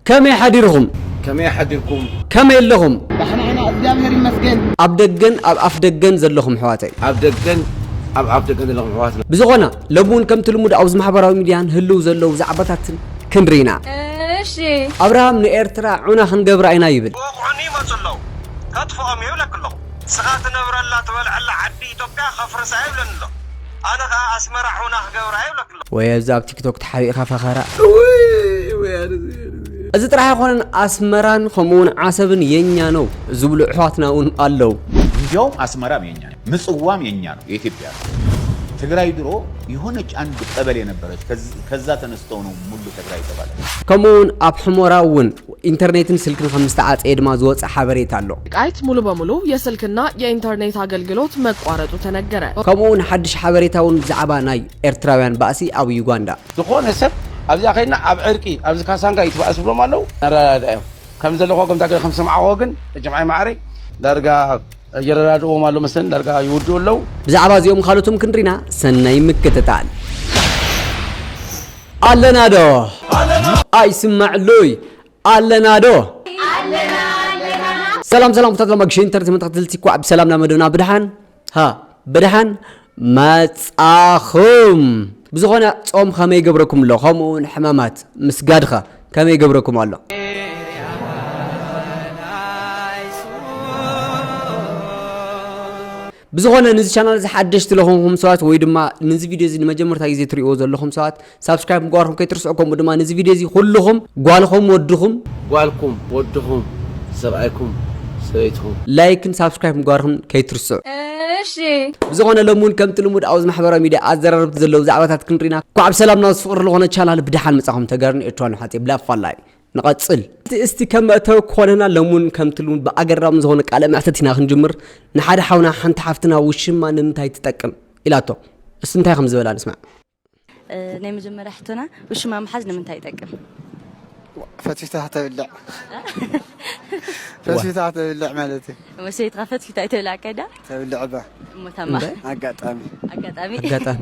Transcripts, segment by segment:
ከመይ ሓዲርኹም? ከመይ ሓዲርኩም? ከመይ ኣለኹም? ዳሕና ኢና እግዚኣብሔር ይመስገን። ኣብ ደገን ኣብ ኣፍ ደገን ዘለኹም ኣሕዋተይ። ኣብ ደገን ኣብ ኣፍ ደገን ዘለኹም ኣሕዋትና። ብዝኾነ ሎሚ እውን ከምቲ ልሙድ ኣብዚ ማሕበራዊ ሚድያ ንህልው ዘለው ዛዕባታትን ክንርኢ ኢና። እሺ። ኣብርሃም ንኤርትራ ዑና ክንገብራ ኢና ይብል። ክወቕዑኒ ይመጹ ኣለዉ ከጥፍኦም እየ ይብለኪ ኣለኹ። ንስኻ ትነብረላ ትበልዐላ ዓዲ ኢትዮጵያ ከፍርሳ እየ ይብለኒ ኣሎ። ኣነ ከኣ ኣስመራ ዑና ክገብራ እየ ይብለኪ ኣለኩ። ወየ እዚ ኣብ ቲክቶክ ተሓቢእኻ ፈኸራ። እውይ ወያነ ዝብል እዚ። እዚ ጥራሕ ኣይኮነን ኣስመራን ከምኡ ውን ዓሰብን የኛ ነው ዝብሉ እሕዋትና ውን ኣለው። እንዲያውም ኣስመራም የኛ ነው ምጽዋም የኛ ነው የኢትዮጵያ ነው። ትግራይ ድሮ የሆነች ኣንድ ቀበሌ ነበረች ከዛ ተነስተው ነው ሙሉ ተግራይ የተባለ። ከምኡ ውን ኣብ ሕሞራ ውን ኢንተርኔትን ስልክን ከም ዝተዓጸየ ድማ ዝወጸ ሓበሬታ ኣሎ። ወልቃይት ሙሉ በሙሉ የስልክና የኢንተርኔት ኣገልግሎት መቋረጡ ተነገረ። ከምኡ'ውን ሓድሽ ሓበሬታ'ውን ብዛዕባ ናይ ኤርትራውያን ባእሲ ኣብ ዩጋንዳ። ዝኾነ ሰብ ኣብዚኣ ከይድና ኣብ ዕርቂ ኣብዚ ካሳንጋ ይትባእ ዝብሎም ኣለው ነረዳድኦም ከም ዘለኹ ከምታ ገለ ከም ዝሰማዕኹዎ ግን ጅምዓይ ማዓረይ ዳርጋ የረዳድእዎም ኣሎ መስለኒ ዳርጋ ይውድኡ ኣለው። ብዛዕባ እዚኦም ካልኦትን ክንሪና ሰናይ ምክትታል። ኣለና ዶ ኣይስማዕሉይ ኣለና ዶ ሰላም ሰላም ኩታት ሎማ ግሽን ተርቲ መተኸትልቲ ኳዕ ብሰላም ናብ መደብና ብድሓን ሃ ብድሓን መጻኹም ብዝኾነ ጾም ከመይ ገብረኩም ኣሎ ከምኡ እውን ሕማማት ምስጋድኸ ከመይ ገብረኩም ኣሎ ብዝኾነ ንዚ ቻናል እዚ ሓደሽቲ ለኾንኩም ሰባት ወይ ድማ ንዚ ቪድዮ እዚ ንመጀመርታ ግዜ ትርእይዎ ዘለኹም ሰባት ሳብስክራይብ ምግባርኩም ከይትርስዑ ከምኡ ድማ ንዚ ቪድዮ እዚ ኩልኹም ጓልኹም ወድኹም ጓልኩም ወድኹም ሰብኣይኩም ሰበይትኹም ላይክን ሳብስክራይብ ምግባርኩም ከይትርስዑ። እሺ ብዝኾነ ሎሚ እውን ከምቲ ልሙድ ኣብዚ ማሕበራዊ ሚድያ ኣዘራረብቲ ዘለዉ ዛዕባታት ክንሪና ኳዕ ብሰላም ናብዚ ፍቕሪ ለኾነ ቻናል ብደሓን መጻኹም ተጋሩን ኤርትራውያን ኣሕዋተይ ብላፋላይ ንቐጽል። እስቲ ከም መእተዊ ክኾነና ለሙን ከምቲ ልሙድ ብኣገራሚ ዝኾነ ቃለ መሕተት ኢና ክንጅምር። ንሓደ ሓውና ሓንቲ ሓፍትና ውሽማ ንምንታይ ትጠቅም? ኢላቶ። እስቲ እንታይ ከም ዝበላ ንስማዕ። ናይ መጀመርያ ሕቶና ውሽማ ምሓዝ ንምንታይ ይጠቅም? ፈትፊታ ከተብልዕ ፈትፊታ ከተብልዕ ማለት እዩ። እሞ ሰበይትኻ ፈትፊታ ኣይተብልዓካይ ድያ? ተብልዕ እባ እሞ ታማ እምበር ኣጋጣሚ ኣጋጣሚ ኣጋጣሚ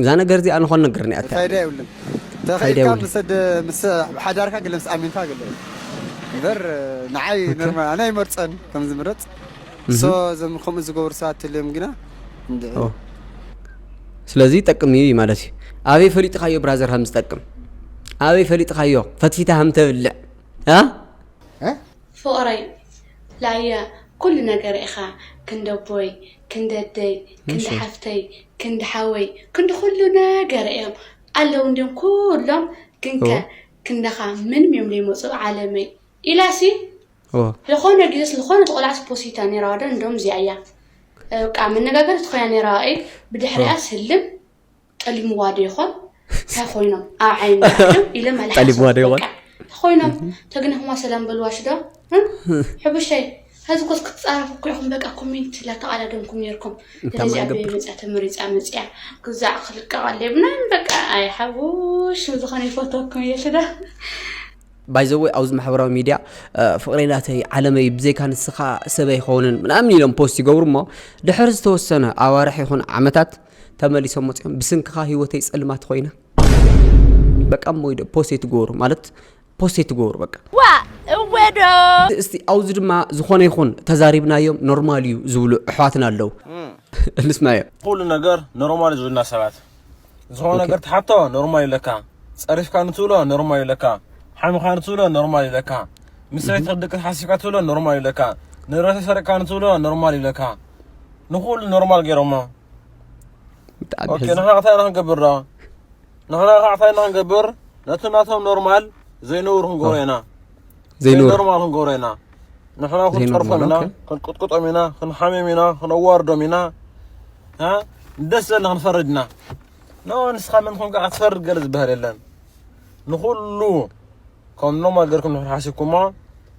እዛ ነገር እዚኣ ንኾን ነገር ኒኣ ፋይዳ የብሉን ተኸኢልካ ምስ ምስ ሓዳርካ ግለ ምስ ኣሚንካ ግለ እምበር ንዓይ ኖርማል ኣነ ኣይመርፀን ከም ዝምረፅ ሶ እዞም ከምኡ ዝገብሩ ሰባት ተልዮም ግና እንድዒ ስለዚ ይጠቅም እዩ ማለት እዩ ኣበይ ፈሊጥኻዮ ብራዘር ከም ዝጠቅም ኣበይ ፈሊጥኻዮ ፈትፊታ ከም ተብልዕ ፍቕረይ ላየ ኩሉ ነገር ኢኻ ክንደቦይ ክንዲ ኣደይ ክንዲ ሓፍተይ ክንዲ ሓወይ ክንዲ ኩሉ ነገረይ እዮም ኣለዉ እንድዮም ኩሎም ግንከ ክንዳኻ ምንም እዮም ዘይመጹ ዓለመይ ኢላሲ ዝኾነ ግዜስ ዝኾነ ተቆላዕስ ፖሲታ ነይራ ዋዶ እንዶም እዚኣ እያ በቃ መነጋገርቲ ኮይና ነይራ እይ ብድሕሪኣስ ህልም ጠሊምዋ ዶ ይኾን ታይ ኮይኖም ኣብ ዓይኒ ኣትዮም ኢለ መልሓስ ጠሊምዋ ዶ ይኾን? በቃ ኮይኖም ተግንሕዋ ሰላም በልዋ ሽዶ እም? ሕቡሸይ ሕዚ ኮስ ክትፃረፉ እኮ ኢኹም በቃ ኮሜንት ላተቓዳደምኩም ነይርኩም እንታይ ስለዚ ኣበይ ማገብር? መፅያ ተመሪፃ መፅያ ግዛዕ ክልቀቕ ኣለ ምናምን በቃ ኣይ ሓቡሽ ንዝኾነ ይፈትወኩም እየ ሽዶ ባይዘወይ ኣብዚ ማሕበራዊ ሚድያ እ፣ ፍቕረይ ናተይ ዓለመይ ብዘይካ ንስኻ ሰብ ኣይኸውንን ምናምን ኢሎም ፖስት ይገብሩ እሞ ድሕሪ ዝተወሰነ ኣዋርሕ ይኹን ዓመታት ተመሊሶም መፅኦም ብስንክኻ ህይወተይ ፀልማት ኮይና በቃ እሞ ኢዶ ፖስት ኣይትገበሩ ማለት ፖስት ኣይትገበሩ በቃ ዋ እወ ዶ እስቲ ኣብዚ ድማ ዝኾነ ይኹን ተዛሪብናዮም ኖርማል እዩ ዝብሉ ኣሕዋትና ኣለዉ ንስማዮ ኩሉ ነገር ኖርማል ዝብልና ሰባት ዝኾነ ነገር ትሓቶ ኖርማል ይለካ ፀሪፍካ ንትብሎ ኖርማል ይለካ ሓሚኻ ንትብሎ ኖርማል ይለካ ምስ ሰበይትካ ደቅካ ሓሲብካ ትብሎ ኖርማል ይለካ ንብረተይ ሰሪቕካ ንትብሎ ኖርማል ይለካ ንኩሉ ኖርማል ገይሮሞ ብጣዕሚ ኦኬ ንሕና እንታይ ኢና ክንገብር ንሕና ከዓ እንታይ ኢና ክንገብር ነቲ ናቶም ኖርማል ዘይነብሩ ክንገብሮ ኢና ዘይኖርማል ክንገብሮ ኢና ንሕና ክንፀርፎም ኢና ክንቅጥቅጦም ኢና ክንሓምዮም ኢና ክነዋርዶም ኢና ደስ ዘለና ክንፈርድ ኢና ኖ ንስኻ መን ኮንካ ክትፈርድ ገለ ዝበሃል የለን ንኩሉ ከም ኖርማል ገርኩም ንሕና ሓሲብኩሞ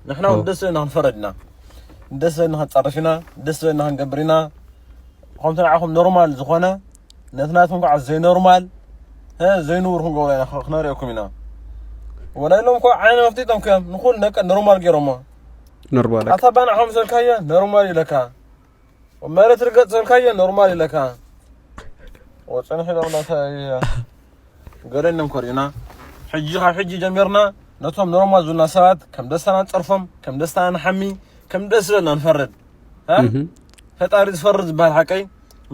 ንሕና እውን ደስ ዝበለና ክንፈረድ ኢና ደስ ዝበለና ክንፀርፍ ኢና ደስ ዝበለና ክንገብር ኢና ከምቲ ንዓኹም ኖርማል ዝኾነ ነቲ ናትኩም ከዓ ዘይኖርማል ዘይንቡር ክንገብሮ ኢና ክነርእየኩም ኢና ወላ ኢሎም እኮ ዓይነ መፍቲቶም ክዮም ንኩሉ ነቀ ኖርማል ገይሮሞ ኖርማል ኣታ ባንዕኹም ዘልካዮ ኖርማል ኢለካ መሬት ርገጽ ዘልካዮ ኖርማል ኢለካ ወጽንሕ ኢሎምና ገረንም ኮሪና ሕጂ ካብ ሕጂ ጀሚርና ነቶም ኖርማል ዝብሉና ሰባት ከም ደስታና ንጸርፎም ከም ደስታና ንሓሚ ከም ደስ ዝበልና ንፈርድ ፈጣሪ ዝፈርድ ዝበሃል ሓቀይ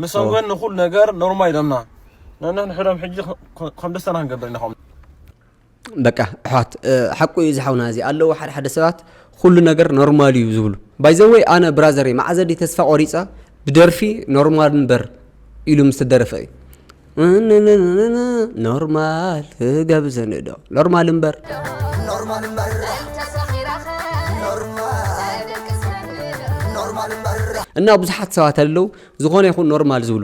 ምሶም ግን ንኹሉ ነገር ኖርማል ኢሎምና ነንሕድሕዶም ሕጂ ከም ደስታና ክንገብር ኢና በቃ ኣሕዋት ሓቁ እዩ ዝሓውና እዚ ኣለዉ ሓደ ሓደ ሰባት ኩሉ ነገር ኖርማል እዩ ዝብሉ ባይዘወይ ኣነ ብራዘሪ መዓዘ ድዩ ተስፋ ቆሪፀ ብደርፊ ኖርማል እምበር ኢሉ ምስ ተደረፈ እዩ ኖርማል ገብዘንዶ ኖርማል እምበር ኖርማል እምበር እና ብዙሓት ሰባት ኣለዉ ዝኾነ ይኹን ኖርማል ዝብሉ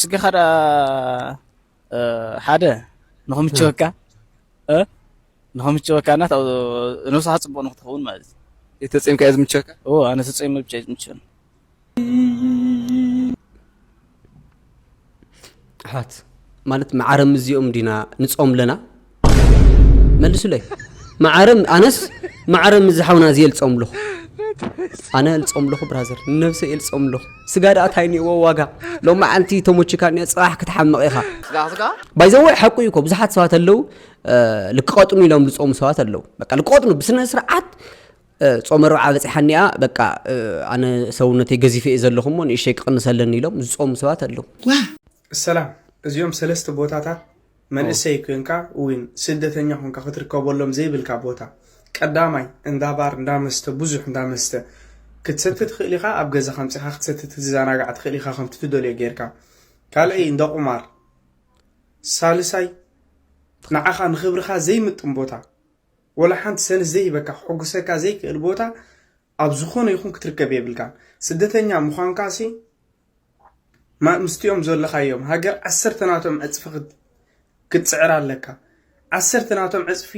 ስጋኻ ደኣ ሓደ ንኽምቸወካ ንኽምቸወካ እና ነብስኻ ፅቡቕ ንኽትኸውን ማለት እዩ ተፀምካ እየ ዝምቸወካ ኣነ ተፀም ብቻ እዩ ዝምቸወኒ ኣሕዋት ማለት መዓረም እዚኦም ዲና ንፆም ኣለና መልሱለይ ማዓረ ኣነስ ማዓረ ምዝ ሓውና እዚ የልፆም ኣለኹ ኣነ የልፆም ኣለኹ ብራዘር ንነብሰ የልፆም ኣለኹ ስጋ ደኣ ታይ ኒዎ ዋጋ ሎሚ መዓልቲ ተሞችካ ኒኦ ፅባሕ ክትሓምቕ ኢኻ ስጋ ስጋ ባይዘወ ሓቁ እዩ እኮ ብዙሓት ሰባት ኣለው ልክቐጥኑ ኢሎም ዝፀሙ ሰባት ኣለው በቃ ልክቐጥኑ ብስነ ስርዓት ጾመ ርብዓ በፂሓኒኣ በቃ ኣነ ሰውነተይ ገዚፈ እየ ዘለኹ እሞ ንእሸይ ክቕንሰለኒ ኢሎም ዝፀሙ ሰባት ኣለው ሰላም እዚኦም ሰለስተ ቦታታት መንእሰይ ኮይንካ ዊን ስደተኛ ኮንካ ክትርከበሎም ዘይብልካ ቦታ ቀዳማይ እንዳ ባር እንዳ መስተ ብዙሕ እንዳ መስተ ክትሰቲ ትኽእል ኢኻ ኣብ ገዛኻ ኣምጺኻ ክትሰቲ ክትዘናጋዕ ትኽእል ኢኻ ከምቲ ትደልዮ ጌርካ ካልኣይ እንዳ ቁማር ሳልሳይ ንዓኻ ንኽብርኻ ዘይምጥን ቦታ ወላ ሓንቲ ሰንስ ዘይህበካ ክሕጉሰካ ዘይክእል ቦታ ኣብ ዝኾነ ይኹን ክትርከብ የብልካን ስደተኛ ምዃንካሲ ምስቲኦም ዘለኻዮም ሃገር ዓሰርተ ናቶም ዕጽፊ ክትጽዕር ኣለካ። ዓሰርተ ናቶም ዕጽፊ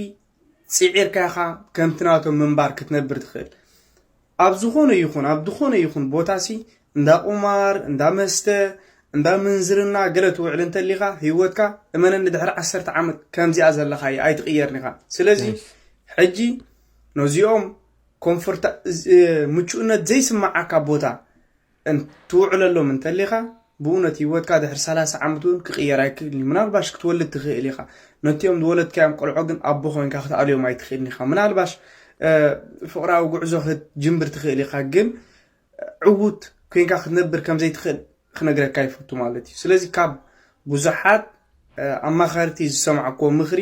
ጽዒርካ ኢኻ ከምቲ ናቶም ምንባር ክትነብር ትኽእል። ኣብ ዝኾነ ይኹን ኣብ ዝኾነ ይኹን ቦታሲ እንዳ ቁማር፣ እንዳ መስተ፣ እንዳ ምንዝርና ገለ ትውዕል እንተሊኻ ህይወትካ እመነኒ ድሕሪ ዓሰርተ ዓመት ከምዚኣ ዘለኻያ ኣይትቕየርን ኢኻ። ስለዚ ሕጂ ነዚኦም ኮንፈርታ ምቹእነት ዘይስምዓካ ቦታ እን ትውዕለሎም እንተሊኻ ብኡነት ህይወትካ ድሕሪ ሰላሳ ዓመት እውን ክቕየር ኣይክእልን እዩ ምናልባሽ ክትወልድ ትኽእል ኢኻ ነቲኦም ዝወለድካዮም ቆልዖ ግን ኣቦ ኮይንካ ክትኣልዮም ኣይትኽእልን ኢኻ ምናልባሽ ፍቕራዊ ጉዕዞ ክትጅምብር ትኽእል ኢኻ ግን ዕውት ኮይንካ ክትነብር ከም ዘይትኽእል ክነግረካ ይፈቱ ማለት እዩ ስለዚ ካብ ብዙሓት ኣማኸርቲ ዝሰማዕኩዎ ምኽሪ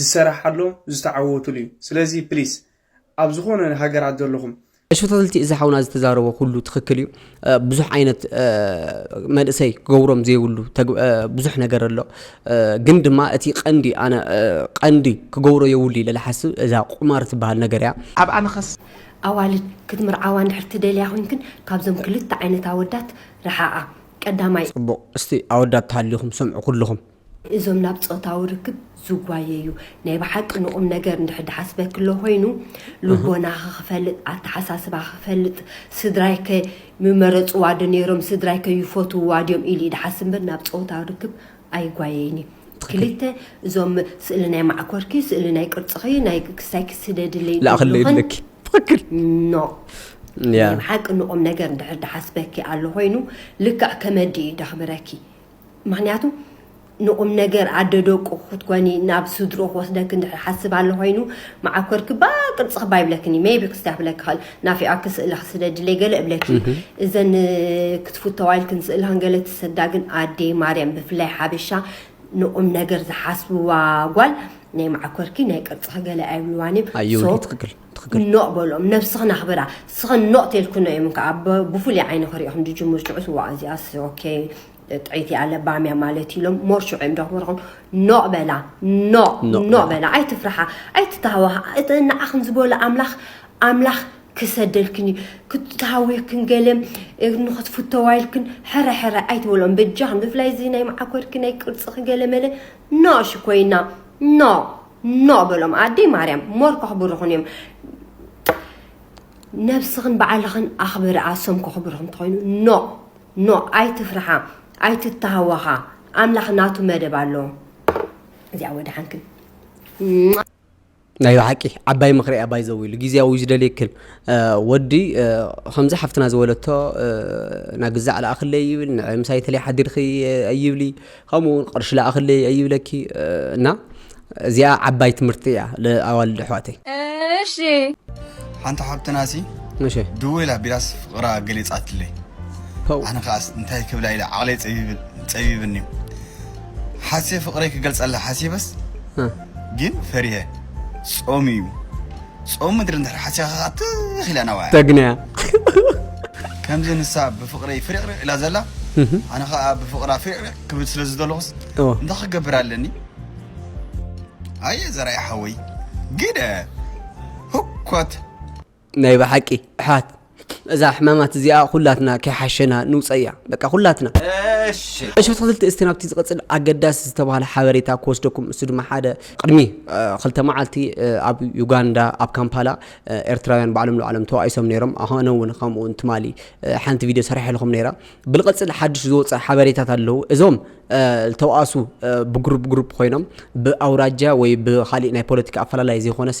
ዝሰራሓሎም ዝተዓወቱሉዩ ስለዚ ፕሊስ ኣብ ዝኾነ ሃገራት ዘለኹም። እሺ ተከታተልቲ እዚ ሓውና ዝተዛረቦ ኩሉ ትክክል እዩ ብዙሕ ዓይነት መንእሰይ ክገብሮም ዘይብሉ ብዙሕ ነገር ኣሎ ግን ድማ እቲ ቀንዲ ኣነ ቀንዲ ክገብሮ የብሉ ኢለ ዝሓስብ እዛ ቁማር ትበሃል ነገር እያ ኣብኣ መኸስ ኣዋልድ ክትምርዓዋ እንድሕር ትደልያ ኮይንክን ካብዞም ክልተ ዓይነት ኣወዳት ርሓቓ ቀዳማይ። ጽቡቅ እስቲ ኣወዳት ተሃሊኹም ስምዑ ኩሉኹም። እዞም ናብ ጾታዊ ርክብ ዝጓየዩ ናይ ብሓቂ ንቑም ነገር እንድሕር ድሓስበክሎ ኮይኑ ልቦናኺ ክፈልጥ ኣተሓሳስባኺ ክፈልጥ ስድራይከ ምመረጽዋ ዶ ነይሮም ስድራይከ ይፈትውዋ ድዮም ኢሉ ድሓስብ እምበር ናብ ጾታዊ ርክብ ኣይጓየይን እዩ ክልተ እዞም ስእሊ ናይ ማዕኮርኪ ስእሊ ናይ ቅርጽኺ ናይ ክስታይኪ ስደድለይ ላእኽለይ ዝብልኽን ድለኪ ትኽክል ኖ ናይ ያ ብሓቂ ንቑም ነገር እንድሕር ድሓስበኪ ኣሎ ኮይኑ ልክዕ ከመዲ እዩ ደኽብረኪ ምክንያቱ ንቁምነገር ኣደ ደቁ ክትኮኒ ናብ ስድሮ ክወስደኪ እንድሕር ሓስብ ኣሎ ኮይኑ መዓኮርኪ ባ ቅርጽ ክባ ይብለክኒ ሜቢ ክስታ ክብለኪ ክእል ናፊዖኪ ስእላ ክስደድለይ ገለ እብለኪ እዘን ክትፍተዋ ኢልክን ስእላ ክንገለ ትሰዳ ግን ኣዴ ማርያም ብፍላይ ሓበሻ ንቁም ነገር ዝሓስብዋ ጓል ናይ መዓኮርኪ ናይ ቅርጽኺ ገለ ኣይብልዋን እዮም ኣዩ ሶ ትክክል ትክክል። ኖእ በሎም ነብስኽን ኣኽብራ ስኽን ኖእ ቴልክኖ እዮም ከኣ ብፉሉይ ዓይኒ ክሪእኽን ድጅምር ሽዑስ እዋእ እዚኣስ ኦኬ ጥዕይቲ እያ ለባምያ ማለት ኢሎም ሞር ሽዑ እዮም ደኽብርኽን ኖእ በላ ኖእ ኖእ ኖእ በላ። በላ ኣይትፍርሓ ኣይትተሃወኻ እቲ ንዓኽን ዝበሎ ኣምላኽ ኣምላኽ ክሰደልክን እዩ ክትተሃዊኽክን ገለ ንኽትፍተዋ ኢልክን ሕረ ሕረ ኣይትበልኦም በጃኽን ብፍላይ እዚ ናይ መዓኮርኪ ናይ ቅርጽኺ ገለ መለ ኖእ ሽኮይና ኖእ ኖእ በሎም ኣደይ ማርያም ሞር ከኽብርኹን እዮም ነብስኽን በዓልኽን ኣኽብሪ ኣሶም ከኽብርኹም ተኾይኑ ኖ ኖ ኣይትፍርሓ ኣይትተሃወኻ ኣምላኽ ናቱ መደብ ኣለዎ እዚኣ ወድሓንክን ናይ ብሓቂ ዓባይ ምክሪ ኣባይ ዘውሉ ግዜያዊ ዝደልየ ክል ወዲ ከምዚ ሓፍትና ዝበለቶ ናግዛዕ ለኣክለ ይብል ንዕምሳይ ተለይ ሓዲርኺ ኣይብሊ ከምኡ ውን ቅርሺ ላኣክለይ ኣይብለኪ እና እዚኣ ዓባይ ትምህርቲ እያ ለኣዋልድ ኣሕዋተይ። እሺ ሓንቲ ሓብትና ሲ እሺ ድውል ኣቢላስ ፍቕራ ገሊጻትለይ ፐው ኣነ ከኣስ እንታይ ክብላ ኢለ ዓቕለይ ጸቢብ- ጸቢብኒ ሓሴ ፍቕረይ ክገልጸላ ሓሲበስ እ፣ ግን ፈሪሀ ጾም እዩ ጾም ምድሪ እንድሕር ሓሲኻ ከኣ ትኽ ኢላ ናባያ ተግንያ ከምዚ ንሳ ብፍቕረይ ፍሪቕሪቕ ኢላ ዘላ ኣነ ከኣ ብፍቕራ ፍሪቕሪቕ ክብል ስለ ዝደለኹስ እወ እንታይ ክገብር ኣለኒ ኣየ ዘርኣይ ሓወይ ግደ ህኮት ናይ ብሓቂ ኣሕዋት እዛ ሕማማት እዚኣ ኩላትና ከይሓሸና ንውጸያ በቃ ኩላትና። እሺ እሺ ኣትክልቲ እስቲ ናብቲ ዝቕጽል ኣገዳሲ ዝተባህለ ሓበሬታ ክወስደኩም እሱ ድማ ሓደ ቅድሚ ክልተ መዓልቲ ኣብ ዩጋንዳ ኣብ ካምፓላ ኤርትራውያን ባዕሎም ንባዕሎም ተባኢሶም ነይሮም ኣነ እውን ከምኡ ትማሊ ሓንቲ ቪድዮ ሰሪሐልኩም ነይራ ብልቐጽል ሓድሽ ዝወፀ ሓበሬታት ኣለዉ እዞም ዝተባእሱ ብግሩፕ ግሩፕ ኮይኖም ብኣውራጃ ወይ ብካሊእ ናይ ፖለቲካ ኣፈላላይ ዘይኮነሲ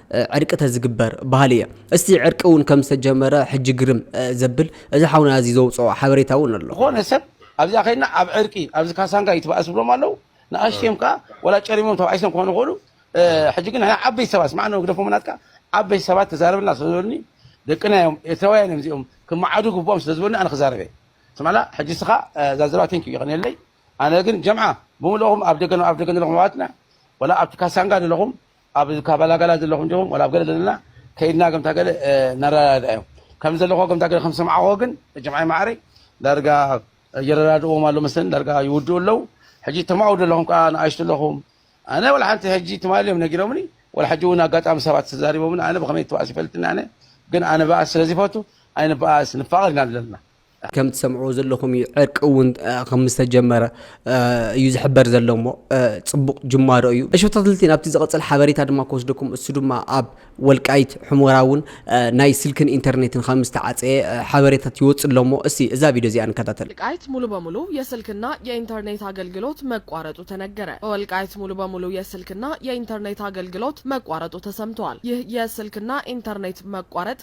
ዕርቂ ተዝግበር በሃሊ እየ። እስቲ ዕርቂ እውን ከም ዝተጀመረ ሕጂ ግርም ዘብል እዚ ሓውና እዚ ዘውጽኦ ሓበሬታ እውን ኣሎ። ዝኾነ ሰብ ኣብዚኣ ከይድና ኣብ ዕርቂ ኣብዚ ካሳንጋ ይትባኣስ ዝብሎም ኣለው ንኣሽቱ እዮም ከኣ ወላ ጨሪሞም ተባኢሶም ክኾኑ ይኽእሉ ሕጂ ግን ንሕና ዓበይቲ ሰባት ስማዕ ን ግደፎም ናትካ ዓበይቲ ሰባት ተዛረበልና ስለ ዝበሉኒ ደቅና እዮም ኤርትራውያን እዮም እዚኦም ክመዓዱ ግብኦም ስለ ዝበሉኒ ኣነ ክዛረብ እየ ስማዕላ ሕጂ እስኻ እዛ ዘረባ ቴንክ ዩ ይቕንየለይ ኣነ ግን ጀምዓ ብምልእኹም ኣብ ደገ ኣብ ደገ ዘለኹም ኣሕዋትና ወላ ኣብቲ ካሳንጋ ዘለኹም ኣብ ካባላጋላ ዘለኹም ዲኹም ወላ ኣብ ገለ ዘለና ከይድና ከምታ ገለ ነረዳድኣዮም ከም ዘለኹዎ ከምታ ገለ ከም ዝሰምዓኹዎ ግን መጀምዓይ ማዕረይ ዳርጋ የረዳድእዎም ኣሎ መስለኒ ዳርጋ ይውድኡ ኣለዉ ሕጂ ተማውዱ ኣለኹም ከዓ ንኣሽቱ ኣለኹም ኣነ ወላ ሓንቲ ሕጂ ትማሊ እዮም ነጊሮምኒ ወላ ሕጂ እውን ኣጋጣሚ ሰባት ተዛሪቦምኒ ኣነ ብከመይ ትባእስ ይፈልጥኒ ኣነ ግን ኣነ በኣስ ስለ ዝፈቱ ኣይንበኣስ ንፋቐር ኢና ዘለና ከም ትሰምዕዎ ዘለኹም እዩ ዕርቂ እውን ከም ዝተጀመረ እዩ ዝሕበር ዘሎ እሞ ፅቡቕ ጅማሮ እዩ እሸቶትልቲ ናብቲ ዝቐፅል ሓበሬታ ድማ ክወስደኩም እሱ ድማ ኣብ ወልቃይት ሑመራ እውን ናይ ስልክን ኢንተርኔትን ከም ዝተዓፀየ ሓበሬታት ይወፅእ ኣሎ እሞ እስቲ እዛ ቪድዮ እዚኣ ንከታተል። ወልቃይት ሙሉ በሙሉ የስልክና የኢንተርኔት ኣገልግሎት መቋረጡ ተነገረ በወልቃይት ሙሉ በሙሉ የስልክና የኢንተርኔት ኣገልግሎት መቋረጡ ተሰምተዋል ይህ የስልክና ኢንተርኔት መቋረጥ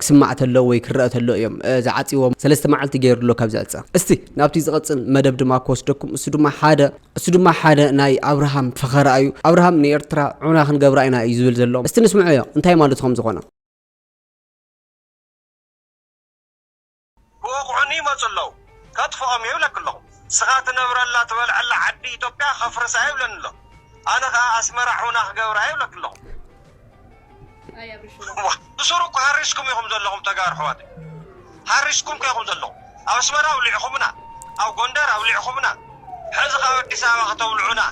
ክስማዕ ተሎ ወይ ክረኣ ተሎ እዮም ዝዓጽዎ ሰለስተ መዓልቲ ገይሩ ኣሎ ካብ ዝዕጸ እስቲ ናብቲ ዝቐጽል መደብ ድማ ክወስደኩም እሱ ድማ ሓደ እሱ ድማ ሓደ ናይ ኣብርሃም ፈኸራ እዩ ኣብርሃም ንኤርትራ ዑና ክንገብራ ኢና እዩ ዝብል ዘሎ እስቲ ንስምዖዮ እንታይ ማለቱ ከም ዝኾነ ክወቕዑኒ ይመጹ ኣለዉ ከጥፍኦም'የ ይብለኪ ኣለኹ። ንስኻ ትነብረላ ትበልዐላ ዓዲ ኢትዮጵያ ከፍርሳ'የ ይብለኒ ኣሎ። ኣነ ከኣ ኣስመራ ዑና ክገብራ'የ ይብለኪ ኣለኹ። ብሱሩ እኮ ሃሪስኩም ኢኹም ዘለኹም ተጋሩ ኣሕዋተይ። ሃሪስኩም እኮ ኢኹም ዘለኹም። ኣብ ኣስመራ ኣውሊዕኹምና፣ ኣብ ጎንደር ኣውሊዕኹምና፣ ሕዚ ከ ኣብ ኣዲስ ኣበባ ከተውልዑና።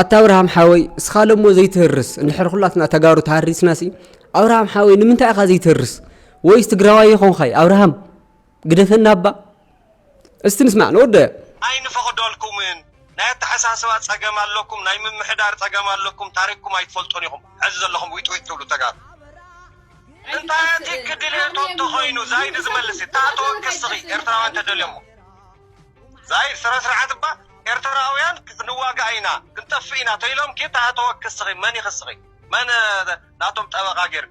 ኣታ ኣብርሃም ሓወይ እስኻ ለሞ ዘይትህርስ እንድሕር ኩላትና ተጋሩ ተሃሪስናሲ ኣብርሃም ሓወይ ንምንታይ ኢኻ ዘይትህርስ ወይስ ትግራዋይ የኾንኻይ ኣብርሃም ግደፈና እባ እስቲ ንስማዕ ንወደዮ። ኣይንፈቕደልኩምን ናይ ኣተሓሳስባ ጸገም ኣለኩም ናይ ምምሕዳር ጸገም ኣለኩም ታሪኽኩም ኣይትፈልጡን ኢኹም ሕዚ ዘለኹም ዊጥ ዊጥ ትብሉ ተጋሩ እንታይ ኣቲኪ ድሌቶም እንተኾይኑ ዛይድ ዝመልስ እታ ተወክስኺ ኤርትራውያን ተደልዮሞ ዛይድ ስረ ስርዓት እባ ኤርትራውያን ክንዋጋእ ኢና ክንጠፍእ ኢና ተይሎምኪ እታ ተወክስኺ መን ይኽስኺ መን ናቶም ጠበቓ ጌርኪ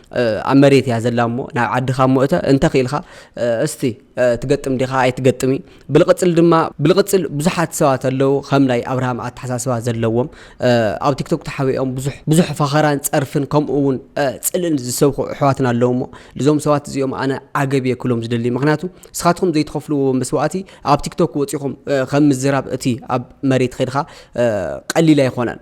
ኣብ መሬት እያ ዘላ እሞ ናብ ዓድኻ እሞ እተ እንተ ክኢልካ እስቲ ትገጥም ዲኻ ኣይትገጥሚ ብልቕፅል ድማ ብልቕፅል ብዙሓት ሰባት ኣለዉ ከም ናይ ኣብርሃም ኣተሓሳስባ ዘለዎም ኣብ ቲክቶክ ተሓቢኦም ብዙሕ ብዙሕ ፈኸራን ፀርፍን ከምኡ እውን ፅልእን ዝሰብኩ ኣሕዋትና ኣለዉ እሞ እዞም ሰባት እዚኦም ኣነ ዓገብ እየ ክሎም ዝደሊ ምክንያቱ ንስኻትኩም ዘይትኸፍልዎ መስዋእቲ ኣብ ቲክቶክ ወፂኹም ከም ምዝራብ እቲ ኣብ መሬት ኸድካ ቀሊል ኣይኮነን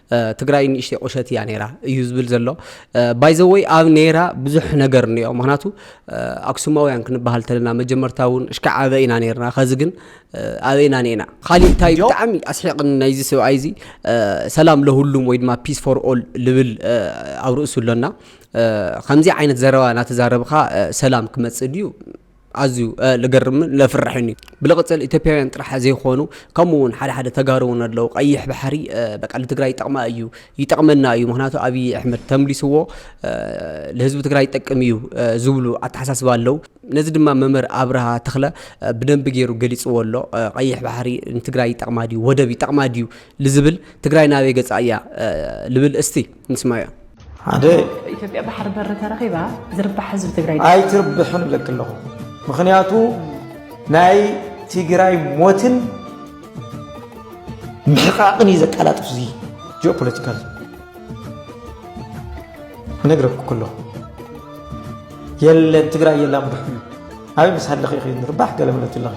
ትግራይ ንእሽተይ ቁሸት እያ ነራ እዩ ዝብል ዘሎ ባይዘወይ ኣብ ነራ ብዙሕ ነገር እኒኦ ምክንያቱ ኣክሱማውያን ክንበሃል ተለና መጀመርታ እውን እሽካ ዓበ ኢና ነርና ከዚ ግን ኣበይና ኒና ካሊእ እንታይ ብጣዕሚ ኣስሒቕን ናይዚ ሰብኣይ እዚ ሰላም ለሁሉም ወይ ድማ ፒስ ፎር ኦል ልብል ኣብ ርእሱ ኣሎና ከምዚ ዓይነት ዘረባ እናተዛረብካ ሰላም ክመፅእ ድዩ ኣዝዩ ልገርምን ለፍርሕን እዩ ብልቕፅል ኢትዮጵያውያን ጥራሕ ዘይኮኑ ከምኡ እውን ሓደ ሓደ ተጋሩ እውን ኣለዉ ቀይሕ ባሕሪ በቃ ንትግራይ ይጠቕማ እዩ ይጠቕመና እዩ ምክንያቱ ኣብዪ ኣሕመድ ተምሊስዎ ንህዝቢ ትግራይ ይጠቅም እዩ ዝብሉ ኣተሓሳስባ ኣለዉ ነዚ ድማ መምህር ኣብርሃ ተኽለ ብደንቢ ገይሩ ገሊፅዎ ኣሎ ቀይሕ ባሕሪ ንትግራይ ይጠቕማ ድዩ ወደብ ይጠቕማ ድዩ ልዝብል ትግራይ ናበይ ገፃ እያ ልብል እስቲ ንስማያ ሓደ ኢትዮጵያ ባሕሪ በሪ ተረኺባ ዝርባሕ ህዝቢ ትግራይ ኣይትርብሕን እብለኪ ኣለኹ ምክንያቱ ናይ ትግራይ ሞትን ምሕቃቕን እዩ ዘቀላጥፍ እዚ ጂኦ ፖለቲካል ነግረኩ ከለኹ የለን ትግራይ የላን ብሕሉ ኣበይ ምስ ሃለኺ ኢኺ ንርባሕ ገለ ምለት ኣለኺ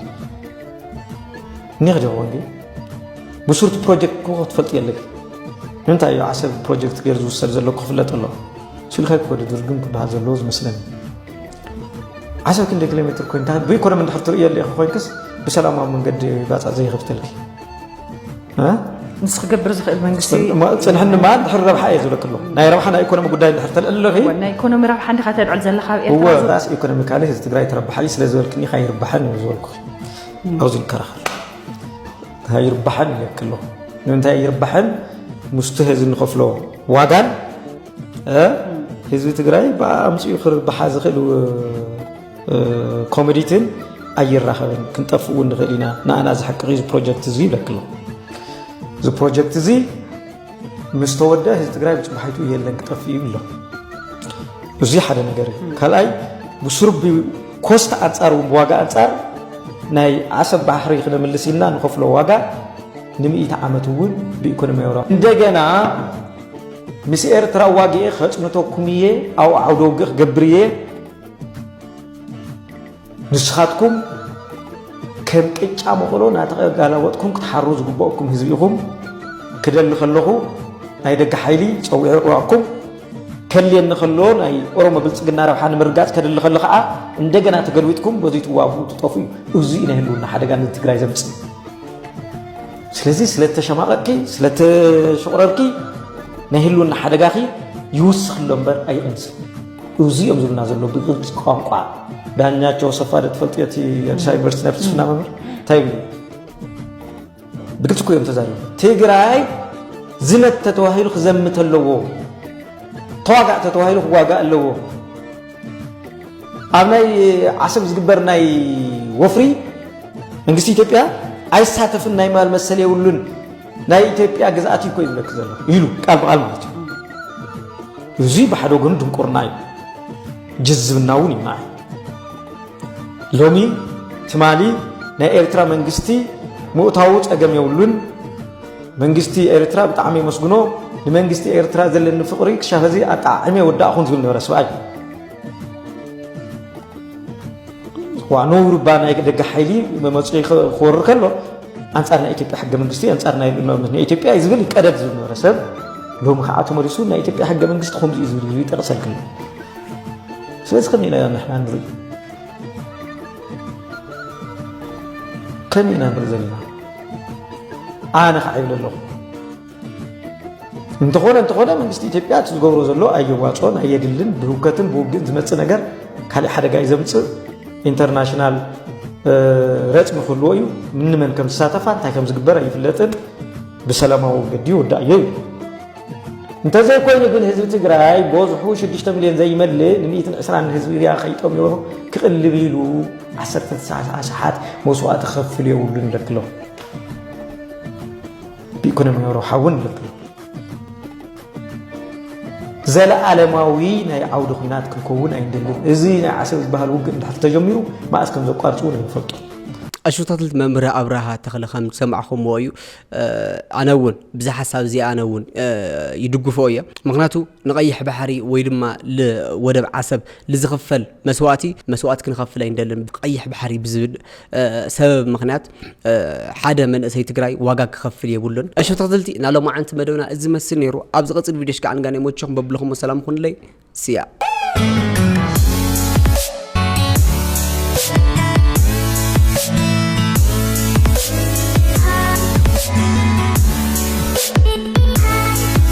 ኒኽ ዲኹ እንዲ ብሱርቲ ፕሮጀክት ክኾ ትፈልጥ የለኪ ንምንታይ እዩ ዓሰብ ፕሮጀክት ገይሩ ዝውሰድ ዘሎ ክፍለጥ ኣሎ ሲልካ ክወደ ድርግም ክበሃል ዘለዎ ዝመስለኒ ዓሰብ ክንደይ ኪሎ ሜትር ኮይንታ ብኢኮኖሚ እንድሕር ትርእዮ ኣለኢኺ ኮይንክስ ብሰላማዊ መንገዲ ባፃ ዘይኸፍተልኪ ምስ ክገብር ዝኽእል መንግስቲ ፅንሕኒ ማ ድሕሪ ረብሓ እየ ዝብለክ ኣለኹ ናይ ረብሓ ናይ ኢኮኖሚ ጉዳይ ድሕር ተልዕል ኣለኺ ናይ ኢኮኖሚ ረብሓ እንዲኻ ተልዕል ዘለኻ ኣብ ኤርትራ ራስ ኢኮኖሚካሊ ህዝቢ ትግራይ ትረብሓ እዩ ስለ ዝበልክኒ ካ ይርባሕን እዩ ዝበልኩ ኣብዚ ንከራኸር ይርባሕን ይለክ ኣለኹ ንምንታይ ይርባሕን ምስቲ ህዝቢ ንኸፍሎ ዋጋን ህዝቢ ትግራይ ብኣ ኣምፅኡ ክርብሓ ዝኽእል ኮሚዲትን ኣይራኸብን ክንጠፍእ እውን ንኽእል ኢና ንኣና እዚ ሓቂ እዚ ፕሮጀክት እዚ ይብለክሎ እዚ ፕሮጀክት እዚ ምስ ተወደ ህዝቢ ትግራይ ብፅባሒቱ የለን ክጠፍእ እዩ ኣሎ እዚ ሓደ ነገር እዩ ካልኣይ ብስሩብ ኮስት ኣንፃር እውን ብዋጋ ኣንፃር ናይ ዓሰብ ባሕሪ ክነምልስ ኢልና ንኸፍሎ ዋጋ ንምኢቲ ዓመት እውን ብኢኮኖሚያዊ ረብሓ እንደገና ምስ ኤርትራ ዋግኤ ከፅንተኩም እየ ኣብ ዓውደ ውግእ ክገብር እየ ንስኻትኩም ከም ቅጫ መኸሎ እናተጋላወጥኩም ክትሓሩ ዝግበኦኩም ህዝቢ ኢኹም ክደሊ ከለኹ ናይ ደገ ሓይሊ ፀዊዑ ዕዋኩም ከልየኒ ከሎ ናይ ኦሮሞ ብልፅግና ረብሓ ንምርጋፅ ከድሊ ከሎ ከዓ እንደገና ተገልቢጥኩም በዚ ትዋጉ ትጠፉ እዩ እዚ እዩ ናይ ህልውና ሓደጋ ንትግራይ ዘምፅእ ስለዚ ስለተሸማቐቅኪ ስለተሸቑረርኪ ናይ ህልውና ሓደጋኺ ይውስኽ ኣሎ እምበር ኣይቕንስን እዙይ እዮም ዝብልና ዘሎ ብግልፂ ቋንቋ ዳኛቸው ሰፋ ደ ትፈልጥ እቲ ኣዲስ ኣበባ ዩኒቨርሲቲ ናይ ፍልስፍና መምህር እንታይ ይብሉ ብግልፂ እኮ እዮም ተዛሪቦም ትግራይ ዝመት ተተዋሂሉ ክዘምት ኣለዎ ተዋጋእ ተተዋሂሉ ክዋጋእ ኣለዎ ኣብ ናይ ዓሰብ ዝግበር ናይ ወፍሪ መንግስቲ ኢትዮጵያ ኣይሳተፍን ናይ ማል መሰል የብሉን ናይ ኢትዮጵያ ግዝኣት እዩ እኮ ይብለኪ ዘለኹ ኢሉ ቃል ብቓል ማለት እዩ። እዚ ብሓደ ወገኑ ድንቁርና እዩ፣ ጅዝብና እውን እዩ ንዓይ። ሎሚ ትማሊ ናይ ኤርትራ መንግስቲ ምእታዉ ጸገም የብሉን። መንግስቲ ኤርትራ ብጣዕሚ የመስግኖ። ንመንግስቲ ኤርትራ ዘለኒ ፍቕሪ ክሻብ ሕዚ ኣጠዓዒመ ወዳእኹን ዝብል ነበረ ስብኣይ ዋኖ ውርባ ናይ ደገ ሓይሊ መመፁ ክወርር ከሎ ኣንፃር ናይ ኢትዮጵያ ሕገ መንግስቲ ኣንፃር ናይ ኢትዮጵያ እዩ ዝብል ቀደድ ዝነበረ ሰብ ሎሚ ከዓ ተመሊሱ ናይ ኢትዮጵያ ሕገ መንግስቲ ከምዚ እዩ ዝብል ይጠቕሰልክ ስለዚ ከመይ ኢና ንሕና ንርኢ ከመይ ኢና ንርኢ ዘለና ኣነ ከዓ ይብለ ኣለኹ እንተኾነ እንተኾነ መንግስቲ ኢትዮጵያ እቲ ዝገብሮ ዘሎ ኣየዋፅኦን ኣየድልን ብህውከትን ብውግእን ዝመፅእ ነገር ካልእ ሓደጋ እዩ ዘምፅእ ኢንተርናሽናል ረፅሚ ክህልዎ እዩ ምንመን ከም ዝሳተፋ እንታይ ከም ዝግበር ኣይፍለጥን ብሰላማዊ መገዲ ይውዳእ እዩ እንተዘይኮይኑ ግን ህዝቢ ትግራይ በዝሑ 6 ሚልዮን ዘይመልእ ን120 ህዝቢ ሪያ ከይጠምዮ ክቕልብ ኢሉ 19 ሰዓት መስዋእቲ ክኸፍል የብሉን ደክሎ ብኢኮኖሚያዊ ረብሓ እውን ይፍልጥ ኣሎ። ዘለኣለማዊ ናይ ዓውዲ ኩናት ክንከውን ኣይንደልን። እዚ ናይ ዓሰብ ዝበሃል ውግእ እንድሕር ተጀሚሩ መኣስ ከም ዘቋርፅ እውን ኣይንፈልጡ። ኣሽታትልት መምህር ኣብርሃ ተኽለ ከም ዝሰማዕኹምዎ እዩ ኣነ እውን ብዛ ሓሳብ እዚ ኣነ እውን ይድግፎ እየ ምክንያቱ ንቀይሕ ባሕሪ ወይ ድማ ወደብ ዓሰብ ልዝኽፈል መስዋእቲ መስዋእቲ ክንኸፍል ኣይንደልን ቀይሕ ባሕሪ ብዝብል ሰበብ ምክንያት ሓደ መንእሰይ ትግራይ ዋጋ ክኸፍል የብሉን። እሾ ተኽትልቲ ናይ ሎማዓንቲ መደብና እዚ መስል ነይሩ። ኣብ ዝቕፅል ቪድዮ ሽካዕ ንጋን የመችኹም በብለኹሞ ሰላም ኹንለይ ስያ